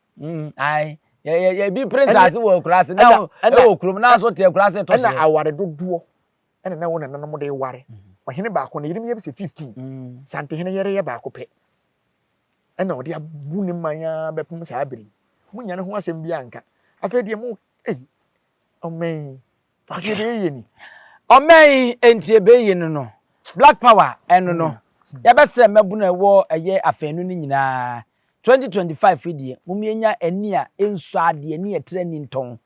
yɛbi pere nsaase wɔ akura ase na ɛwɔ kurom na nso te akura ase to hyeɛ ɛna aware dodoɔ ɛna na wɔn nananom de ware ɔhene baako na yenim yɛ sɛ fifteen mm. santehene yɛrɛ yɛ baako pɛ ɛna ɔde abu ne man ara bɛpem saa bere mu nya ne ho asɛm bi anka afei deɛ mo ei ɔmɛn nti ɛbɛyɛ ni ɔmɛn nti ɛbɛyɛ no no black power ɛno no mm. yɛbɛsrɛ mmɛbo na ɛwɔ ɛyɛ afɛnu no nyinaa 2025 deɛ momienya ani a ɛnsu adeɛ ne ɛtrɛ ni ntɔn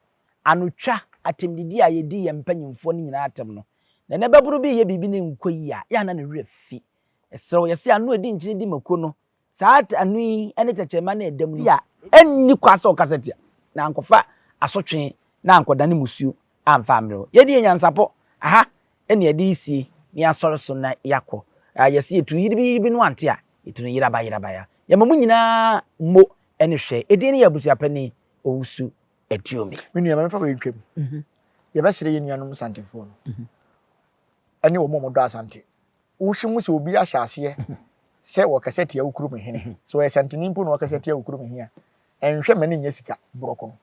anotwa atɛmdidi a yɛdi yɛn mpanyimfoɔ no nyinaa atɛm no, na ɛnɛ babunu bi reyɛ biribi na ɛnkɔ yie a, yɛ a na ne werɛ fi. Ɛserɛ wo, yɛse ano a ɛdi nkyene di mako no, saa ano yi ne tɛkyerɛma no a ɛdam no bi a ɛnni kwan sɛ ɔkasa tia, na ankɔfa asotwe na ankɔdane mmusuo amfa ammrɛ wo. Yɛadi yɛn nyansapɔ, aha na yɛde resie na yɛasɔre so na yɛakɔ. Yɛse yɛtu yiribiyibi no ante a, yɛtu no yerabayerabaya. Yɛma mo nyinaa mo ne hwɛ. Ɛdin ne yɛn abusuapanin, Owusu ɛtuo me. Me nua, mɛmfa wei ntwam. Mhm. Yɛbɛsrɛ yɛn nuanom Santefoɔ no mhm. ɛne wɔn a wɔdɔ Asante. Wohwɛ mu sɛ obi ahyɛ aseɛ mhm. sɛ wɔkasa tia wo kurom hene. Sɛ ɔyɛ Santini mpo na ɔkasa tia wo kurom hene a, ɛnhwɛ ma ne nyɛ sika borɔko no.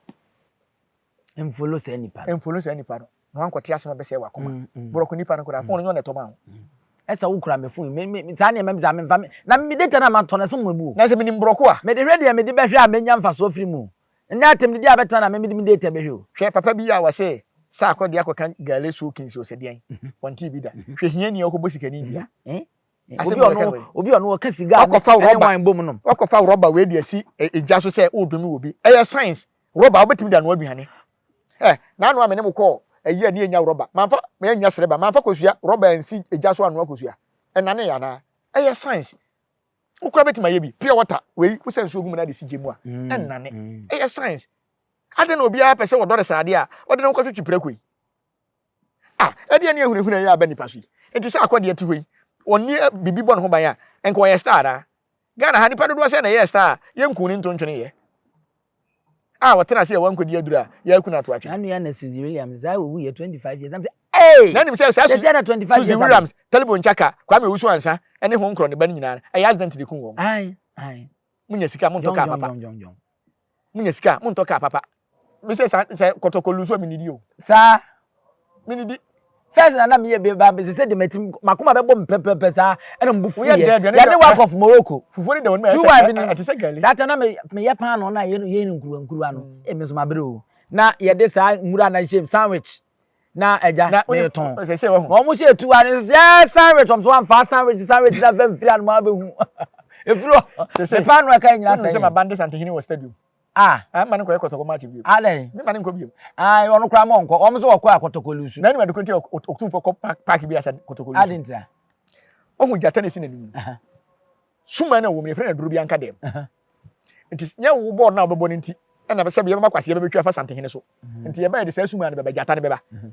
Mfolo saa nipa no. Mfolo saa nipa no. Na wankɔte asɛm ɛbɛsɛ wakoma. Mm, mm. Borɔko nipa no koraa, fone nyɛ ɔna ɛtɔma ho. Mm. Ɛsɛ wokura me fone. Saa nneɛma bi saa memfa me. Na me data no a matɔ no ɛso mmabu. Na sɛ menim borɔko a. Mede hwɛ deɛ mede bɛhwɛ a mɛnya mfasoɔ firi mu. Ndɛ atamdidi a bɛtena na me mede me data bɛhwɛ o. Hwɛ papa bi a wɔse saakɔ de akɔka gale so kings ɔsɛ deɛn ɔntee bi da hwɛ hiani a ɔkɔbɔ sikani dua asɛm na ɔka no wei obi ɔno ɔka siga ne wine bom nom ɔkɔfa rɔba wei de asi egya so sɛ ɔredome wɔ bi ɛyɛ science rɔba wobɛtumi de anoa aduane ɛ naano a me ne mo kɔɔ ɛyi a ne yɛnya rɔba manfa yɛnya srɛba manfa kosua rɔba ansi egya so anoa kosua ɛnane yɛ anaa ɛyɛ science Wo koraa bɛtumi ayɛ bi. Pure water wei wo sɛ nsuo gu mu na de si gya mu a ɛnnane. Ɛyɛ science. Adɛn na obiara pɛ sɛ wɔdɔ de saa adeɛ a wɔde ne ho kɔtwetwe prako yi? Ah, ɛdeɛ ne ahunahuna yi aba nipa so yi. Nti sɛ akɔ deɛ te hɔ yi, ɔnni biribi bɔ ne ho ban a, nka ɔyɛ star anaa? Ghana ha, nipa dodoɔ sɛn na ɛyɛɛ star a yɛnkuu ne ntontweneeɛ? a wɔtena ase yɛ wɔn nkodi aduru a yɛaku no ato atwene. Saa nua na Suzy Williams saa owu yɛ 25 years. Nam sɛ ee! Na nim sɛ saa Suzy na 25 years. Suzy Williams, Talibon Nkyaka, Kwame Owusu Ansa ne Hon Nkorɔ ne ba no nyinaa ɛyɛ accident de kum wɔn. Ae ae. Munya sika montɔ car papa. Jong jong jong. Munya sika montɔ car papa. Me sɛ saa sɛ kɔtɔkɔ lusu a me nidi o. Saa Menidi. First na na meyɛ bɛ ba bɛ sɛ de mati makoma bɛ bɔ mpɛpɛpɛ saa ɛna mbu fu yɛ yɛ ne work of Morocco fufuo ne dɛwɔ ne two wife ni ɛte sɛ gɛli saa tɛ na meyɛ paa no na yɛ no yɛ no nkuruwa nkuruwa no ɛmi nso ma bere o na yɛ de saa nwura na hyɛ mu sandwich na ɛgya na yɛ tɔn na wɔn hyɛ tu ano sɛ sandwich wɔn so wɔn fa sandwich sandwich na fɛn firi ano ma bɛ hu efiri hɔ ne paa no ɛka nyina sɛ ɛyɛ sɛ ma bande santehene wɔ stadium Ah. Ah, mma ne nkɔyɛ kɔtɔkɔ march bio. Adɛn? Mma ne nkɔ bio. Ah, ɔno koraa ma ɔnkɔ. Wɔn nso wɔkɔ a kɔtɔkɔ lusu. N'anim adekoro nti Otumfoɔ kɔ paaki bi asa kɔtɔkɔ lusu. Adɛn ntia? Ohu gyata na esi n'anim. Suman na wɔm yɛfrɛ no aduro bi anka dɛm. Nti nyɛ wo bɔɔl na wɔbɛbɔ no nti ɛna sɛ yɛbɛma kwasi yɛbɛbɛtwa afa santehene so. Mhm. Nti yɛbɛyɛ de saa suman no bɛba gyata no bɛba. Mhm.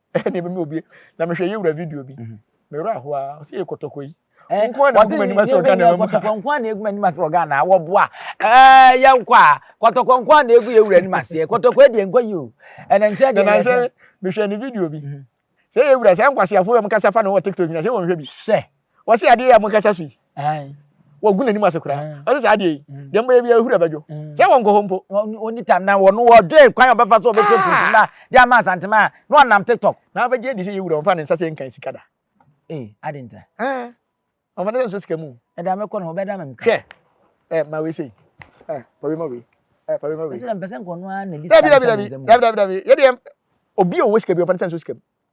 ɛne ɛbɛ mi obi na mehwɛ yɛ wura video bi mhm. me wura ahoa ɔsɛ yɛ kɔtɔkɔ yi eh, nko na egu m'anim ase wɔ Ghana mu kɔtɔkɔ nko na egu m'anim ase wɔ Ghana wɔ boa ɛɛ eh, yɛ nkɔ a kɔtɔkɔ nko na egu yɛ wura anim ase kɔtɔkɔ deɛ nkɔ yi o ɛnɛ nsɛ deɛ ɛnɛ nsɛ mehwɛ ne video bi mhm. sɛ yɛ wura sɛ nkwasiafo yɛ mo kasa fa na wɔ TikTok nyina sɛ wɔn hwɛ bi. sɛ wɔse adeɛ yɛ a monkasa so yi wɔgu n'anim ase koraa mm. ɔsɛ saa adeɛ yi mm. deɛ mbɛyɛ biara hura bɛdwo mm. sɛ wɔnkɔ hɔ mpo ɔni tam na wɔno wɔdwee kwan ɔbɛfa so ɔbɛfɛ pusu na de ama asantema a na ɔnam tiktok na wobɛgye adi sɛ yɛwura ɔmfa ne nsa sɛ nkan sika da ee ade nta ɔmfa ne sɛ nso sika mu ɛda mɛkɔ no ɔbɛda ma msika hwɛ ɛ ma wei sei ɛ ma wei ma wei ɛ ma wei ma wei ɛsɛ mpɛsɛ nkɔno a na di sika dabi dabi dabi dabi dabi yɛdeɛ obi a ɔwɔ sika bi ɔmfa ne sɛ nso sika mu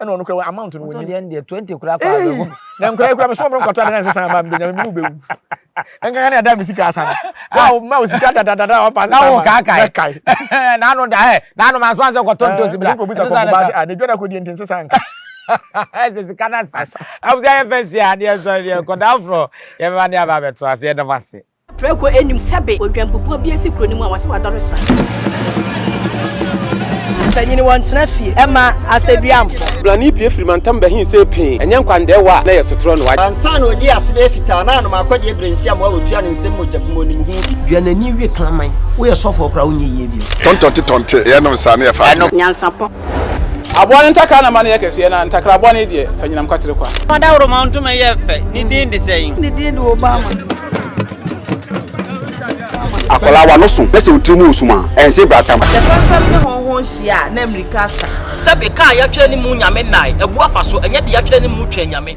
ɛna ɔno kura amount no wɔnim. ɔsɔ deɛ twenty kura kɔ abɛgu. na nkura ekura mi sɔn mi nkɔtɔ adeɛ nsisan ama mi bɛ nyame mi ni bɛ wu nkankan ne ada mi sika asan na o ma o sika dadadada ɔpa nsisan ama bɛ kai. n'anu da ɛ n'anu ma nsisan kɔtɔ ntosi bila nsisan na sa. n'edwa na ko di nti nsisan nka. ɛsɛ sika na sa abusi ayɛ fɛ si a ne yɛ sɔrɔ ne yɛ nkɔda afro yɛ bɛ ba ne yɛ ba bɛ to ase yɛ dɔm ase. Prako nnim sɛbe odwanpopua bi asi kuro no mu a wɔse wadɔre sra. Mpanyini wɔntena fie ɛma asɛduamfo. Brane pue firi mantam bɛhe se pee, ɛnyɛ nkwandɛɛ wɔ a na ɛyɛ sotorɔ no wate. Ansa na ɔdi ase bɛyɛ fitaa na anom akɔdeɛ berɛ nsi amoa ɔtua ne nsam mogya bu mu ɔnim ho bi. Dua n'ani we kraman. Woyɛ sɔfoɔ koraa wonyɛ yie bio. Tɔntɔnte tɔnte, yɛnom saa na yɛfa adwene. Nyansapɔ, Aboa no ntakra na ma no yɛ kɛseɛ, na ntakra bɔne deɛ, fa nyinam kwatere kwa. Fa dawuroma ntoma yɛ fɛ, ne din de sɛn? Ne din de Obama. Akwadaa w'ano so na sɛ wo tiri mu resum a, ɛnse brata ma. Sɛ fɛmfɛm ne hɔnhɔn hyia a, na mmirika asa. Sɛbe, ka a yɛatwerɛ ne mu Nyame nnae, abu afa so, ɛnyɛ deɛ yɛatwerɛ ne mu twɛn Nyame.